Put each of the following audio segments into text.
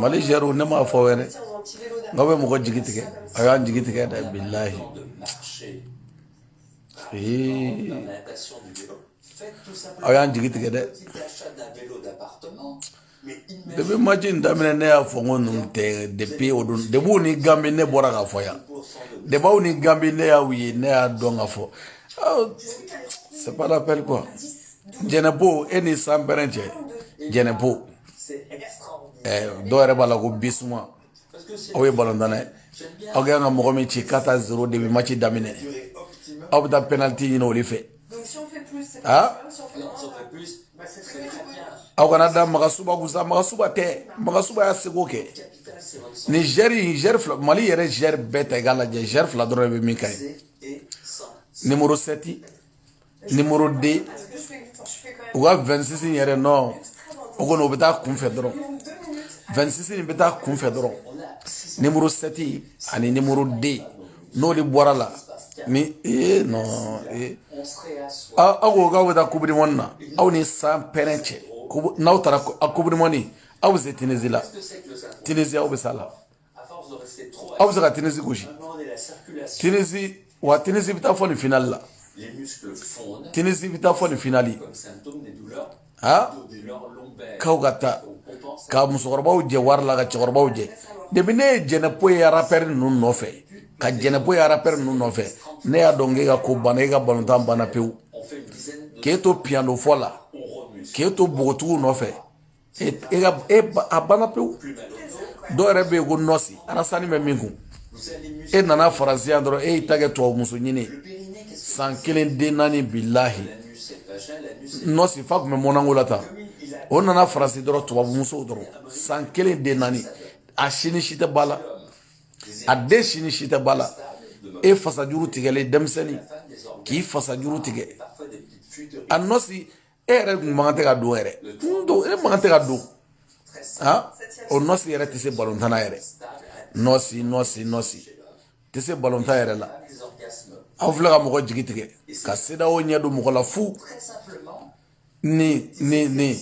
mali zɛriw ne m'a fɔ wɛrɛ nk'aw bɛ mɔgɔ jigi tigɛ aw y'an jigi tigɛ dɛ bilahi aw y'an jigi tigɛ dɛ depi maci in daminɛ ne y'a fɔ n ko ninnu tɛ depi o don depi aw ni gambi ne bɔra k'a fɔ yan depi aw ni gambi ne y'aw ye ne y'a dɔn ka fɔ c'est pas la peine quoi jɛnɛpo e ni sanpɛrɛn cɛ jɛnɛpo dɔw yɛrɛ b'a la ko bisuma aw ye balontan dɛ aw ka kan ka mɔgɔ min ci quatre à zéro depi maci daminɛ aw bɛ taa penaliti ɲini olu fɛ aa aw kan'a da magasuba kun sa magasuba tɛ magasuba y'a seko kɛ ni zɛri zɛri fila mali yɛrɛ zɛri bɛɛ ta i k'a lajɛ zɛri fila dɔrɔn de bɛ min ka ɲi nimoro sɛti nimoro de u ka vɛnsisi yɛrɛ non o kɔni o bɛ taa kunfɛ dɔrɔn vɛnsisi in bɛ taa kunfɛ dɔrɔn nimoro sɛti ani nimoro de n'o de bɔra la ni ee non ee aw ko k'aw bɛ taa coupe du monde na aw ni sanpɛrɛn cɛ n'aw taara coupe du monde aw bɛ se tinizi la tinizi aw bɛ s'a la. aw bɛ se ka tinizi gosi tinizi wa tinizi bɛ taa fo nin finali la tinizi bɛ taa fo nin finali ha k'aw ka taa ka musokɔrɔbaw jɛ wari la ka cɛkɔrɔbaw jɛ depi ne ye jɛnɛpo ye arapɛri ninnu nɔfɛ ka jɛnɛpo ye arapɛri ninnu nɔfɛ ne y'a dɔn k'e ka ko banna e ka balontan banna pewu k'e to piyano fɔ la k'e to bogotigiw nɔfɛ e e ka e a banna pewu dɔw yɛrɛ bɛ yen ko nɔsi arasani bɛ min kun e nana faransi yan dɔrɔn e y'i ta kɛ tubabu muso ɲini san kelen den naani bilahi nɔsi fa tun bɛ mɔnako la tan o nana faransi dɔrɔn tubabu musow dɔrɔn san kelen den naani a si ni si tɛ ba la a den si ni si tɛ ba la e fasajuru tigɛlen denmisɛnnin k'i fasajuru tigɛ a nɔsi e yɛrɛ kun man kan tɛ ka don yɛrɛ n don e man kan tɛ ka don ha o nɔsi yɛrɛ tɛ se balontan na yɛrɛ nɔsi nɔsi nɔsi tɛ se balontan yɛrɛ la aw filɛ ka mɔgɔ jigi tigɛ ka sedeyawo ɲɛ don mɔgɔ la fu ni ni ni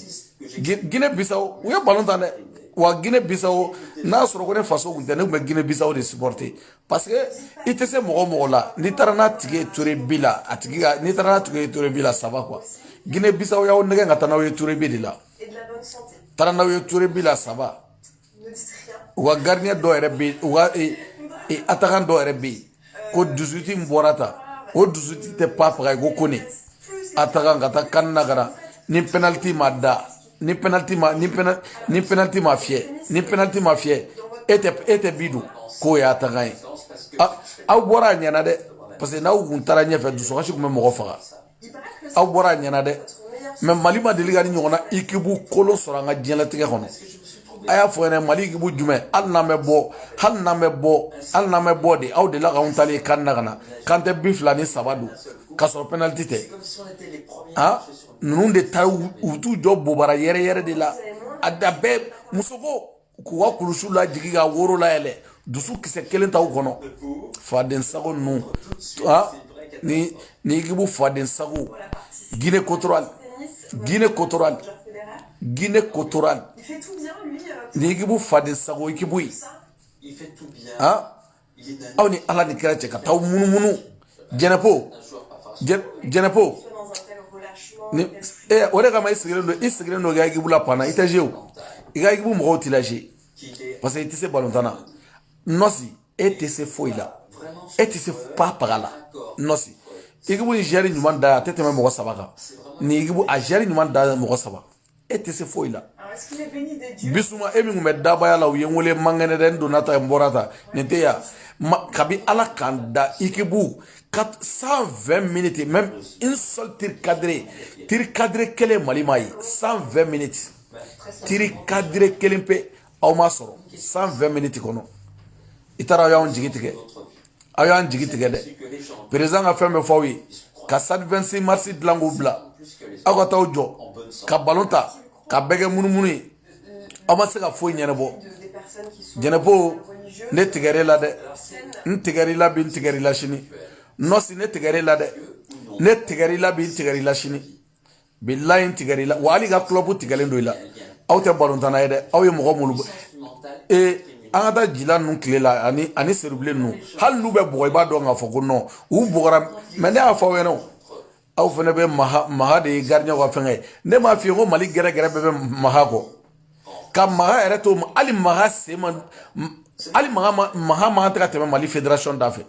gine bisaw u ye balontan dɛ wa gine bisaw n'a sɔrɔ ko ne faso kun tɛ ne kun bɛ gine bisaw de supporter parce que i tɛ se mɔgɔ mɔgɔ la n'i taara n'a tigi ye tir au but la a tigi ka n'i taara n'a tigi ye tir au but la ça va quoi guinée bissau y'aw nɛgɛ ka taa n'aw ye tir au but de la taara n'aw ye tir au but la ça va u ka gardien dɔ yɛrɛ bɛ u ka atakan dɔ yɛrɛ bɛ yen ko disuwiti min bɔra tan o disuwiti tɛ pa faga ko kone atakan ka taa kan na ka na ni penaliti ma da ni penalty ma ni penalty ni penalty ma fiyɛ ni penalty ma fiyɛ e tɛ e tɛ bi don k'o ye attaquant ye aw bɔra a ɲɛna dɛ parce que n'aw kun taara ɲɛfɛ dusukasi tun bɛ mɔgɔ faga aw bɔra a ɲɛna dɛ mais mali ma deli ka nin ɲɔgɔnna ikibu kolon sɔrɔ an ka diɲɛlatigɛ kɔnɔ a y'a fɔ n ɲɛna mali ikibu jumɛn hali n'an bɛ bɔ hali n'an bɛ bɔ hali n'an bɛ bɔ de aw delila k'anw taalen can na ka na k'an tɛ bi fila ni saba don k'a sɔrɔ penaliti tɛ han ninnu de ta u t'u jɔ bobara yɛrɛyɛrɛ de la a da bɛɛ muso ko k'u ka kulusiw lajigi ka woro layɛlɛ dusu kisɛ kelen t'u kɔnɔ faden sago ninnu ni ni ikibu faden sago guinée équatoriale guinée équatoriale guinée équatoriale ni ikibu faden sago ikibu ye aw ni ala ni kira cɛ ka taa munumunu jɛnɛpo jɛnɛpo ni ee o de kama i sigilen don i sigilen don i ka ekibu la banc na i tɛ jouer o i ka ekibu mɔgɔw t'i la jouer parce que i tɛ se balontan na nɔsi e tɛ se foyi la e tɛ se pa paga la nɔsi ekibu nin joueur ɲuman da a tɛ tɛmɛ mɔgɔ saba kan nin ekibu a joueur ɲuman da mɔgɔ saba e tɛ se foyi la bisuma e min tun bɛ dabaya la u ye n wele mankɛnɛ dɛ n donna ta n bɔra ta nin tɛ yan kabi ala k'an da ikibu cent vingt minutes même une seule tir cadré tir cadré kelen mali ma ye cent vingt minutes tir cadré kelen pe aw ma sɔrɔ cent vingt minutes kɔnɔ i taara aw y'an jigi tigɛ aw y'an jigi tigɛ dɛ président ka fɛn bɛɛ fɔ aw ye ka stade 26 mars dilan k'o bila aw ka t'aw jɔ ka balon tan k'a bɛɛ kɛ munumunu ye aw ma se ka foyi ɲɛnabɔ jɛnɛpo ne tigɛr'e la dɛ n tigɛr'i la bi n tigɛr'i la sini nɔsi ne tigɛr'e la dɛ ne tigɛr'i la bi n tigɛr'i la sini bilayi n tigɛra i la wa hali i ka club tigɛlen don i la aw tɛ balontanna ye dɛ aw ye mɔgɔ minnu ee an ka taa jila ninnu tile la ani ani sedubilen ninnu hali n'u bɛ bugɔ i b'a dɔn k'a fɔ ko non u bugɔra mais ne y'a fɔ aw ɲɛna aw fana bɛ maha maha de ye gardienw ka fɛngɛ ye ne m'a f'i ye ko mali gɛrɛgɛrɛ bɛɛ bɛ maha kɔ ka maha yɛrɛ to hali maha sen ma hali maha maha man tɛ ka tɛmɛ mali fédération da fɛ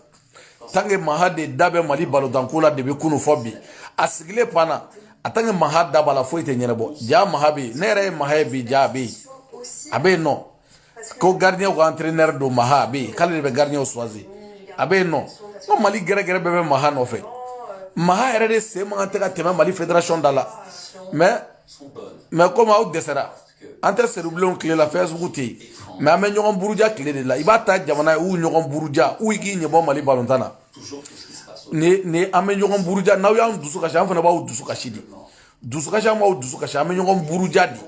tant que maha de da bɛ mali balontanko la depuis kunu fo bi a sigilen panne na a tant que maha da b'a la foyi tɛ ɲɛnabɔ ja maha bɛ yen ne yɛrɛ ye maha ye bi ja a bɛ yen a bɛ yen nɔ ko gardien ko entraîneur don maha a bɛ yen k'ale de bɛ gardien choisir a bɛ yen nɔ ko mali gɛrɛgɛrɛ bɛɛ bɛ maha nɔfɛ maha yɛrɛ de sen man kan tɛ ka tɛmɛ mali fédération da la mais mɛ komi aw dɛsɛra an tɛ seribilenw tile la facebook tɛ yen mɛ an bɛ ɲɔgɔn buruja tile de la i b'a ta jamana ye u ɲɔgɔn buruja u k'i ɲɛbɔ mali balontan na ni ni an bɛ ɲɔgɔn buruja n'aw y'an dusu kasi an fana b'aw dusu kasi de dusukasi an b'aw dusu kasi an bɛ ɲɔgɔn buruja de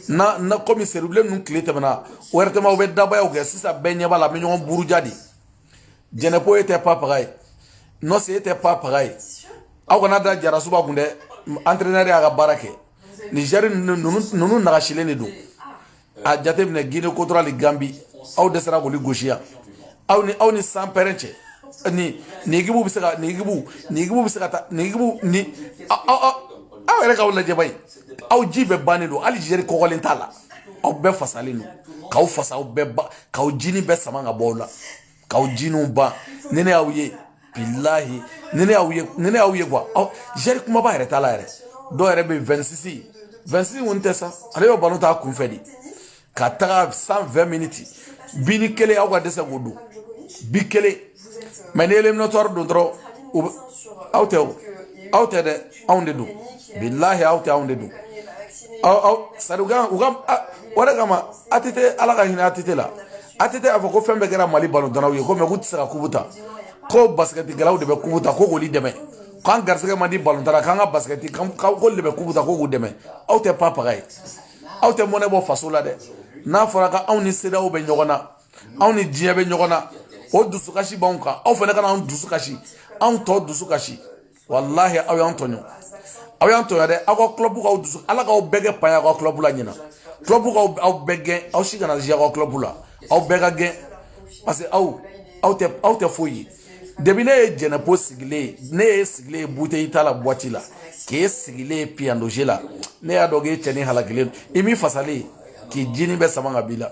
na na komi seribilen ninnu tile tɛmɛna wɛrɛtɛmaw bɛ dabayaw kɛ sisan bɛɛ ɲɛ b'a la an bɛ ɲɔgɔn buruja de jɛnɛpo e tɛ papaga ye nɔsi e tɛ papaga ye aw kana da jarasuba kun dɛ entraîneur y'a ka baara kɛ mɛ zɛri ninnu nagasilen de don a jateminɛ guinée équatoriale gambi aw dɛsɛra k'olu gosi yan aw ni aw ni sanpɛrɛn cɛ ni ni ekibu bɛ se ka ni ekibu ni ekibu bɛ se ka taa ni ekibu ni aw aw aw yɛrɛ k'aw lajɛ bayi aw ji bɛɛ bannen don hali zɛri kɔgɔlen t'a la aw bɛɛ fasalen don k'aw fasa aw bɛɛ ba k'aw jinin bɛɛ sama ka bɔ aw la k'aw jiniw ban ni ne y'aw ye bilahi ni ne y'aw ye ni ne y'aw ye kuwa aw zɛri kumaba yɛrɛ t'a la yɛrɛ dɔw yɛrɛ bɛ vɛnsisi vɛnsisi kɔni tɛ sa ale bɛ balo ta kunfɛ de ka taga san vɛn miniti binin kelen aw ka dɛsɛ k'o don bi kelen mɛ ni éliminatoire don dɔrɔn aw tɛ aw tɛ dɛ anw de don bilahi aw tɛ anw de don sari u ka o de kama ATT ala ka hinɛ ATT la ATT y'a fɔ ko fɛn bɛɛ kɛra mali balontannaw ye ko mɛ k'u tɛ se ka kubu ta ko basikɛtikɛlaw de bɛ kubu ta ko k'olu dɛmɛ k'an garisɛgɛ man di balontan na k'an ka basikɛti k'olu de bɛ kubu ta ko k'u dɛmɛ aw tɛ papaga ye aw tɛ mɔnɛ bɔ faso la dɛ n'a fɔra ko anw ni CEDEAO bɛ ɲɔgɔn na anw ni diɲɛ bɛ ɲɔgɔn na o dusukasi b'anw kan aw fana ka na anw dusu kasi anw tɔ dusu kasi walahi aw y'an tɔɲɔ aw y'an tɔɲɔ dɛ aw ka kulɔbu k'aw dusu ala k'aw bɛɛ kɛ paya aw ka kulɔbu la ɲinan kulɔbu k'aw aw bɛɛ gɛn aw si kana zuwe aw ka kulɔbu la aw bɛɛ ka gɛn parce que aw aw tɛ aw tɛ foyi ye depi ne ye jɛnɛpo sigilen ye ne ye sigilen ye buteyi ta la buwati la k'e sigilen ye piyandoze la ne y'a dɔn k'e cɛnin halakilen don i m'i fasalen k'i jinin bɛɛ sama ka b'i la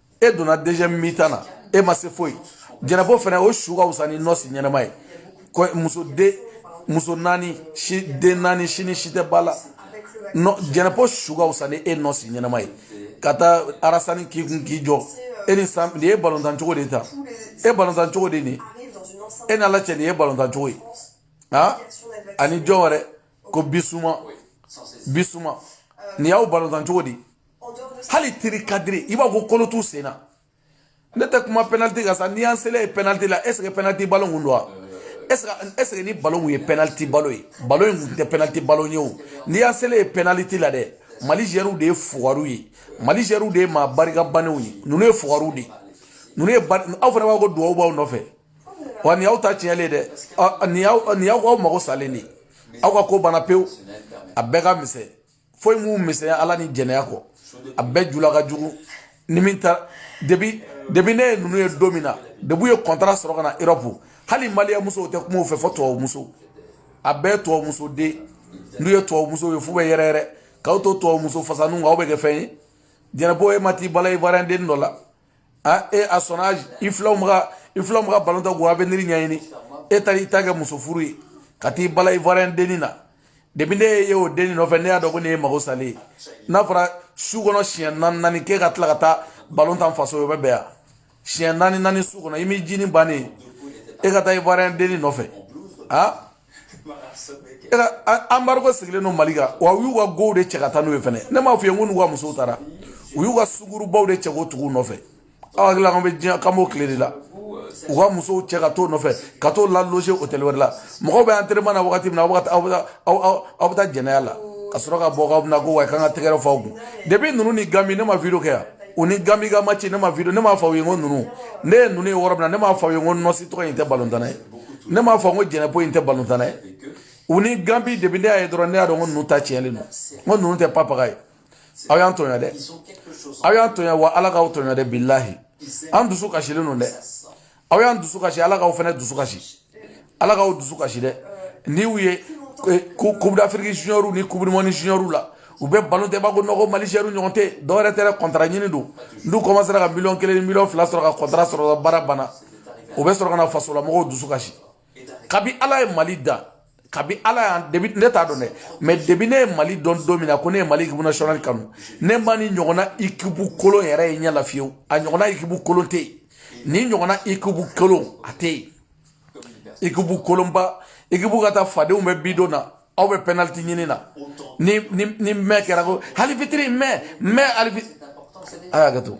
e donna deuxième mi-temps na e ma se foyi jɛnɛpo fɛnɛ o su ka wusa ni nɔsi ɲɛnɛma ye muso den muso naani si den naani sini si tɛ ba la jɛnɛpo su ka wusa ni e nɔsi ɲɛnɛma ye ka taa arasani k'i kun k'i jɔ e ni san nin ye balontan cogo de ta e balontan cogo de nin e n'ala cɛ nin ye balontan cogo ye ha ani jɔn wɛrɛ ko bisuma bisuma nin y'aw balontan cogo di hali tir cadré i b'a ko kolo t'u sen na ne tɛ kuma penaliti kan sa n'i y'an selen ye penaliti la est ce que penaliti balo kun don wa est ce que est ce que ni balo kun ye penaliti balo ye balo in kun tɛ penaliti balo ye o n'i y'an selen ye penaliti la dɛ mali zɛriw de ye fugariw ye mali zɛriw de ye maa barika bannenw ye ninnu ye fugariw de ye ninnu ye aw fana b'a ko duwawu b'aw nɔfɛ wa nin y'aw ta tiɲɛlen dɛ nin y'aw nin y'aw k'aw mago salen de ye aw ka ko banna pewu a bɛɛ ka misɛn foyi m'u misɛnya ala ni jɛnɛya kɔ a bɛɛ jula ka jugu ni min ta depi depi ne ye ninnu ye don min na depi u ye kɔntara sɔrɔ ka na erɔpu hali maliyɛn musow tɛ kuma u fɛ fo tubabu muso a bɛɛ tubabu muso de n'u ye tubabu muso ye f'u bɛ yɛrɛyɛrɛ k'aw to tubabu muso fasaninw kan aw bɛ kɛ fɛn ye jɛnɛpo e ma t'i bala ivoirien den dɔ la a e à son âge i filanw bɛ ka i filanw bɛ ka balon tan k'u avenir ɲɛɲini e taara i ta kɛ muso furu ye ka t'i bala ivoirien denni na depi ne y'e ye o denni nɔfɛ ne y'a dɔn ko nin ye mago salen ye n'a fɔra su kɔnɔ siɲɛ naani naani kɛ ka tila ka taa balon tan faso ye o bɛ bɛn yan siɲɛ naani naani su kɔnɔ i m'i jini bannen e ka taa ivoirien denni nɔfɛ a embargo sigilen don mali kan wa u y'u ka gow de cɛ ka taa n'u ye fɛnɛ ne m'a f'i ye ko n'u ka musow taara u y'u ka sungurunbaw de cɛ k'o tugu nɔfɛ aw hakili la k'an bɛ diɲɛ k'an b'o tile de la u ka musow cɛ ka t'o nɔfɛ ka t'o laloge hôtel wɛrɛ la mɔgɔw bɛ entraînement na wagati min na aw bɛ taa jɛnɛya la ka sɔrɔ ka bɔ k'aw bɛna ko wa k'an ka tɛgɛrɛ f'aw kun depuis ninnu ni ganbi ne ma video kɛ yan u ni ganbi ka match ne ma video ne m'a fɔ aw ye n ko ninnu ne ye ninnu ye yɔrɔ min na ne m'a fɔ aw ye n ko nɔsi tɔgɔ in tɛ balontanna ye ne m'a fɔ n ko jɛnɛpo in tɛ balontanna ye u ni ganbi depi ne y'a ye dɔrɔn ne y'a dɔn ko ninnu ta tiɲɛlen don n ko ninnu tɛ papaga ye aw y'an tɔɲɔ dɛ aw y'an tɔɲɔ wa ala k'aw tɔɲɔ dɛ bilahi an dusu kasilen don dɛ aw y'an dusu kasi ala k'aw fana dusu kasi ala k'aw dusu kasi dɛ n'i y'u ye coupe d'afrique junior ni coupe du monde junior la u bɛ balon tan i b'a kɔnɔ ko mali zuwɛriw ɲɔgɔn tɛ dɔwɛrɛ tɛ dɛ kɔntara ɲini don n'u kɔmasera ka miliyɔn kelen ni miliyɔn fila sɔrɔ ka kɔntara sɔrɔ baara banna u bɛ sɔrɔ ka na fasolamɔgɔw dusu kasi kabi ala ye mali da kabi ala y'an depi ne t'a dɔn dɛ mɛ depi ne ye mali dɔn don min na ko ne ye mali ekipu nasionali kanu ne ma nin ɲɔgɔnna ikipu kolon yɛrɛ ye ɲɛ la fiyewu a ɲɔgɔnna ikipu kolon tɛ yen nin ɲɔgɔnna ikipu kolon a tɛ yen ikipu kolonba ikipu ka taa fadenw bɛ bi don na aw bɛ pɛnaliti ɲini na ni ni ni mɛ kɛra ko hali fitiri mɛ mɛ hali fitiri a y'a kɛ to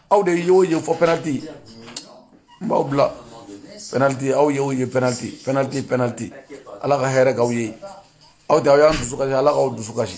aw de y'o ye fo pɛnaliti n b'aw bila pɛnaliti aw y'o ye pɛnaliti pɛnaliti pɛnaliti ala ka hɛrɛ k'aw ye aw tɛ aw y'an dusu kasi ala k'aw dusu kasi